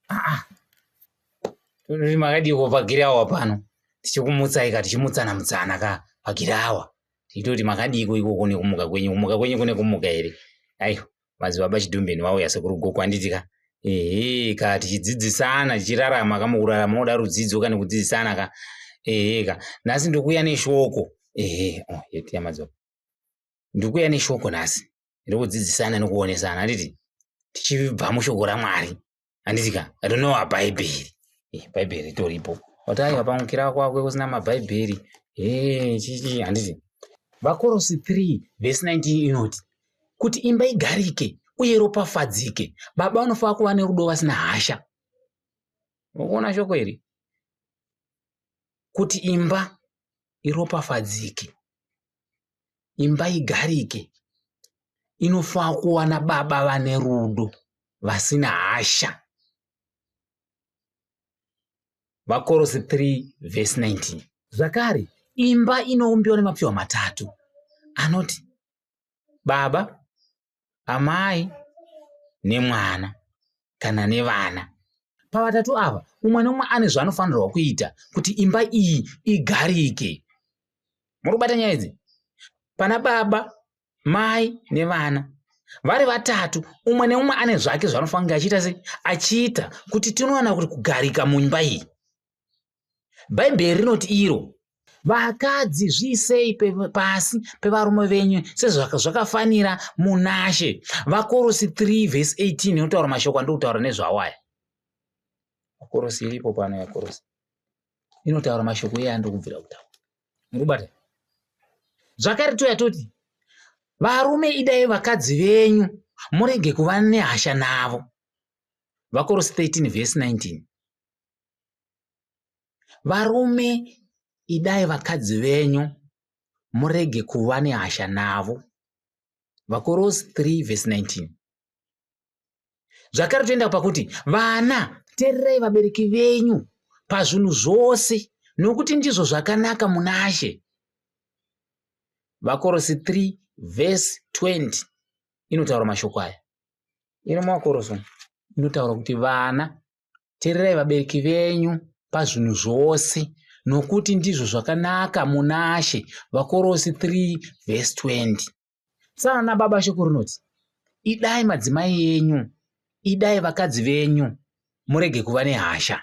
Ah, Turi makadiko pagirawa pano tichikumutsai ka tichimutsana mutsana ka pagirawa tichitoti makadiko ikoko nekumuka kwenyu kumuka kwenyu kune kumuka here aiwa madzibaba chidhumbeni vauya sekuru gogo handiti ka ehe ka tichidzidzisana tichirarama ka mukurarama moda rudzidzo ka nekudzidzisana ka ehe ka nhasi ndikuuya neshoko ehe oh, yetiya madzibaba ndikuuya neshoko nhasi ndokudzidzisana nokuonesana handiti tichibva mushoko ramwari handiti ka rinowa bhaibheri eh, bhaibheri toripo wataiva pamukira kwakwe kusina mabhaibheri eh, chichi handiti vakorosi 3 vhesi 19 inoti kuti imba igarike uye ropafadzike baba vanofanira kuva nerudo vasina hasha ukuona shoko iri kuti imba iropafadzike imba igarike inofanira kuwana baba vane rudo vasina hasha vakorosi 3 vhesi 19 zvakare imba inoumbiwa nemapfihwa matatu anoti baba amai nemwana kana nevana pavatatu ava umwe neumwe ane zvaanofanirwa kuita kuti imba iyi igarike muri kubata nyaya idzi pana baba mai nevana vari vatatu umwe neumwe ane zvake zvaanofanira achiita sei achiita kuti tinowana kuti kugarika mumba iyi bhaibheri rinoti iro vakadzi zviisei pasi pevarume venyu sezvakafanira munashe vakorosi 3 vhesi 18 inotaura mashoko andokutaura nezvawo aya vakorosi iripo pano yakorosi inotaura mashoko iye andokubvira kutaura murikubata zvakare toya toti varume idai vakadzi venyu murege kuva nehasha navo vakorosi 13 vhesi 19 varume idai vakadzi venyu murege kuva nehasha navo vakorosi 3 vhesi 19 zvakare toenda pakuti vana teererai vabereki venyu pazvinhu zvose nokuti ndizvo zvakanaka munashe vakorosi 3 vhesi 20 inotaura mashoko aya ino mumakorosi inotaura kuti vana tererai vabereki venyu pazvinhu zvose nokuti ndizvo zvakanaka munashe vakorosi 3 vhesi 20 saana baba shoko rinoti idai madzimai enyu idai vakadzi venyu murege kuva nehasha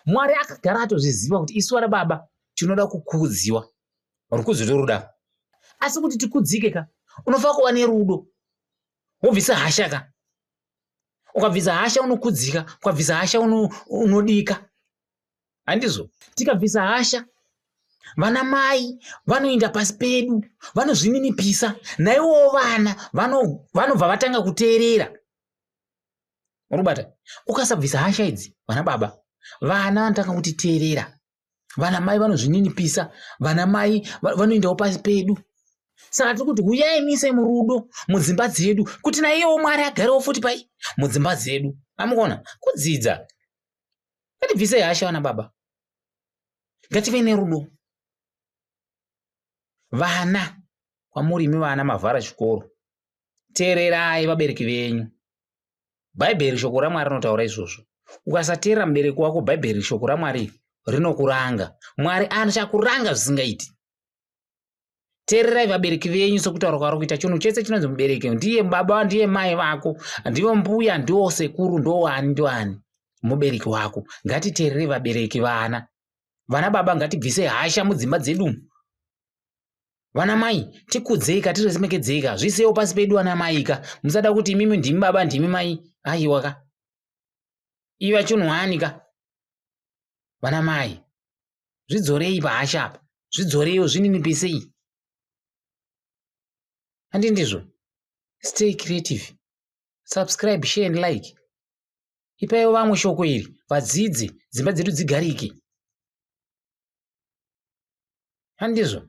mwari akagara atozviziva kuti isu vana baba tinoda kukudziwa rukudzo toruda asi kuti tikudzike ka unofanira kuva nerudo wobvisa hasha ka ukabvisa hasha unokudzika ukabvisa hasha unodika uno handizvo tikabvisa hasha vana mai vanoinda pasi pedu vanozvininipisa naiwowo vana vanobva vatanga kuteerera urikubata ukasabvisa hasha idzi vana baba vana vanotanga kutiteerera vana mai vanozvininipisa vana mai vanoendawo pasi pedu saka tiri kuti huyai muise murudo mudzimba dzedu kuti naiyewo mwari agarewo futi pai mudzimba dzedu amukona kudzidza ngatibvisei hasha vana baba ngative nerudo vana kwamuri imi vana mavhara chikoro teererai vabereki venyu bhaibheri shoko ramwari rinotaura izvozvo ukasateerera mubereki wako bhaibheri shoko ramwari rinokuranga mwari achakuranga zvisingaiti teererai vabereki venyu sokutaura kwaro kuita chinhu chese chinonzi mubereki ndiye baba ndiye mai vako ndivo mbuya ndiwo sekuru ndoani ndoani mubereki wako ngatiteererei vabereki vana vana baba ngatibvise hasha mudzimba dzedu vana mai tikudzeika tiremekedzeika zvisewo pasi pedu vana maika musada kuti imimi ndimi baba ndimi mai aiwa ka iva chunhwani ka vana mai zvidzorei pahasha apa zvidzoreiwo zvinini pisei handi ndizvo stay creative subscribe share and like ipaiwo vamwe shoko iri vadzidzi dzimba dzedu dzigarike handizvo